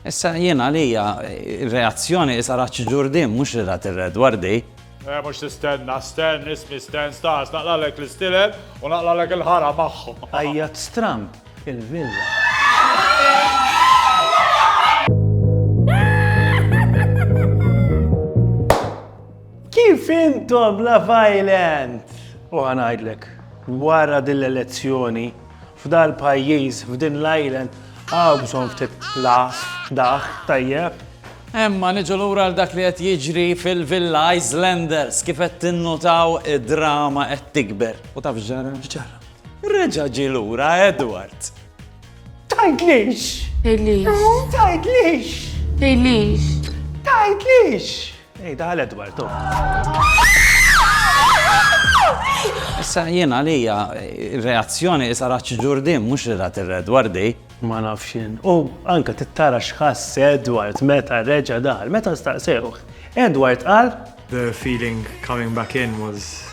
Issa jien għalija reazzjoni is ara ċ-ġur din mhux li ra tirred wardi. Eh, mux tistenna, sten, ismi sten, stas, naqlalek l-istilel u naqlalek il-ħara maħħom. Ajjat stram il-villa. Kif intom la violent? U għanajdlek, wara din l-elezzjoni, F'dal pajjiż, f'din l-island, hawn bżonn ftit laħs, daħk tajjeb. Imma niġu lura għal dak li qed jiġri fil-Villa Islanders. Kif qed tinnutaw, id-drama qed tikber. U taf x'ġara? X'ġara? Reġa' ġie lura Edward! Tgħidlix! Tgħidlix! Tgħidlix! Tgħidlix! Tgħidlix! Ej, daħal Edward, oh. Issa jien għalija reazzjoni isa raċ ġurdin, mux li rat il-Edward di. Ma nafxin. U anka tittara xħass Edward meta reġa daħal, meta staqsewħ. Edward qal. The feeling coming back in was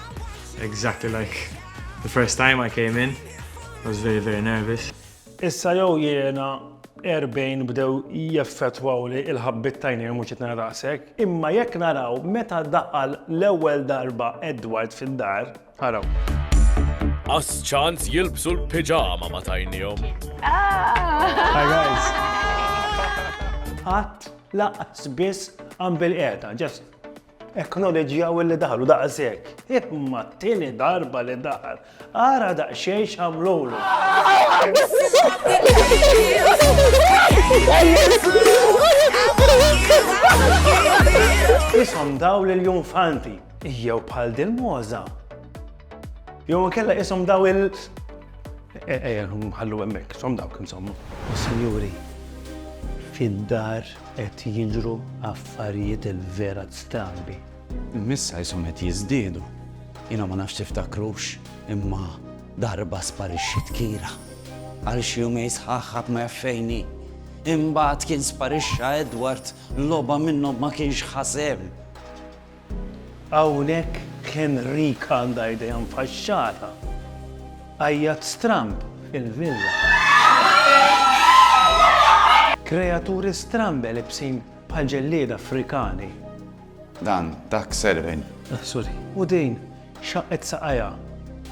exactly like the first time I came in. I was very, very nervous. Issa jew jiena erbgħin bdew jeffettwawli il-ħabbiet t'għajnejn mhux qed nara daqshekk, imma jekk naraw meta daħal l-ewwel darba Edward fid-dar, araw. Qas ċans jilbsu l-piġama ma tajnihom. Hi guys. Qatt laqas biss għan bil-qiegħda, just Eknoleġġjaw li daħlu daqshekk. Imma t-tieni darba li daħal, ara daqsxejn x'għamlulu. Isom daw lil junfanti, jew bħal dil-moza. Jew kella isom daw il- Ejja, eh, eh, eh, ħallu hemmhekk, som dawk insomma. Sinjuri, fid-dar Qed jiġru affarijiet verat strambi. Miss qishom qed jiżdiedu. Jiena ma nafx tiftakrux, imma darba sparixxiet Kira. Għal xi jumejn sħaħ ħadd ma jaf fejn hi. Imbagħad kien sparixxa Edward, logħba minnhom ma kienx ħa sehem. Hawnhekk Henrik għandha idea mfaxxata. Għajjat stramb fil-villa. Kreaturi strambe libsin bħal ġellieda Afrikani. Dan, dak Serwin. Ah, sorry. U din, xaqqet saqajha.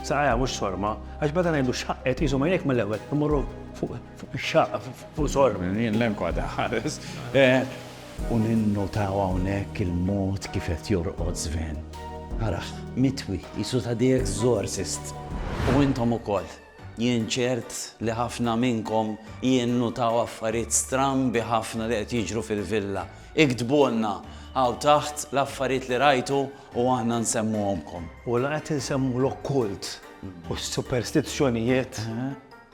Saqajha mhux sorma, għax bada ngħidu xaqqet jisu ma jek mal-ewwel imorru fuq ix-xaqqa, fuq sorm. Jien l-enkwa daħares. Eh, U ninnutaw hawnhekk il-mod kif qed jorqod Sven. Arah, mitwi, qisu ta' The Exorcist. U intom ukoll. Jien ċert li ħafna minnkom jinnutaw affarijiet strambi ħafna li qed jiġru fil-villa. Iktbulna hawn taħt l-affarijiet li rajtu u aħna nsemmuhomkom. U la qed insemmulok kult u superstizzjonijiet.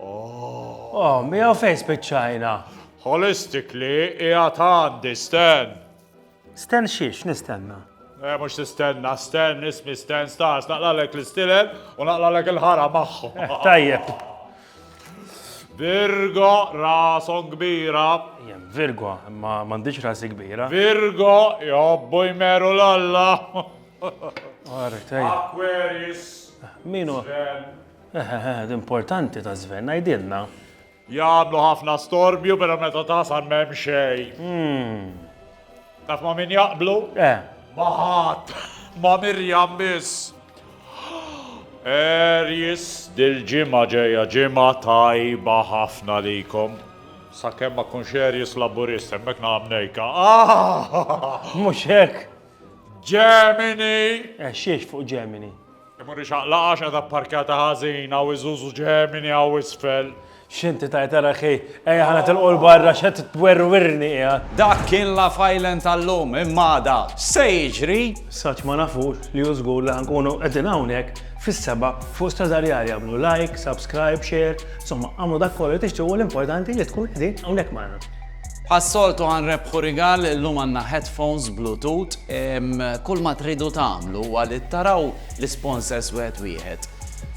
Oh. Oh, miegħu fejn spiċċajna. Holistically qiegħed għandi Stan. Stan xiex nistenna? Eh, mux tistenna, Stan, ismi Stan Stars, naqlalek l-istilel u naqlalek il-ħara maħħu. Eh, tajjeb. Virgo, rason kbira. Jem, Virgo, ma mandiċ rasi kbira. Virgo, jobbu jmeru l-alla. Aquarius. Minu? Ehehehe, l-importanti ta' Sven, għidilna. Jagħmlu ħafna storbju pero meta tasal m'hemm xejn. Taf ma' min jaqblu? Eh. Ma' ħadd. Ma' Miriam biss. Aries, dil-ġimgħa ġejja ġimgħa tajba ħafna likom. Sakemm ma tkunx Aries Laburist, hemmhekk naqa' mnejka. Mhux hekk! Gemini! Eh, xiex fuq Gemini? Imur ixaqlaq għax qiegħda pparkjata ħażin hawn iżużu ġemini hawn isfel. X'inti tajt ara ħi, ejja ħa nitilqu 'l barra x'qed twerwirni qiegħa. Dak kien Laugh Island tal-lum, imma għada x'se jiġri? Saċ ma nafux li hu żgur li ħa nkunu qegħdin hawnhekk fis-sebgħa fuq Stradariali agħmlu like, subscribe, share, insomma agħmlu dak kollu li tixtiequ l-importanti li tkunu qegħdin hawnhekk magħna. Bħas-soltu ħa nrebbħu rigal, illum għandna headphones Bluetooth. Kull ma tridu tagħmlu huwa li taraw l-isponsors wieħed wieħed.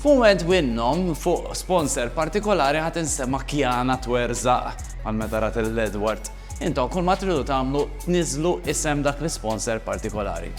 F'mument minnhom, fuq sponsor partikolari ħa tinstema' kjana twerżaq bħal meta rat lil Edward. Intom kull ma tridu tagħmlu tniżżlu isem dak l-isponsor partikolari.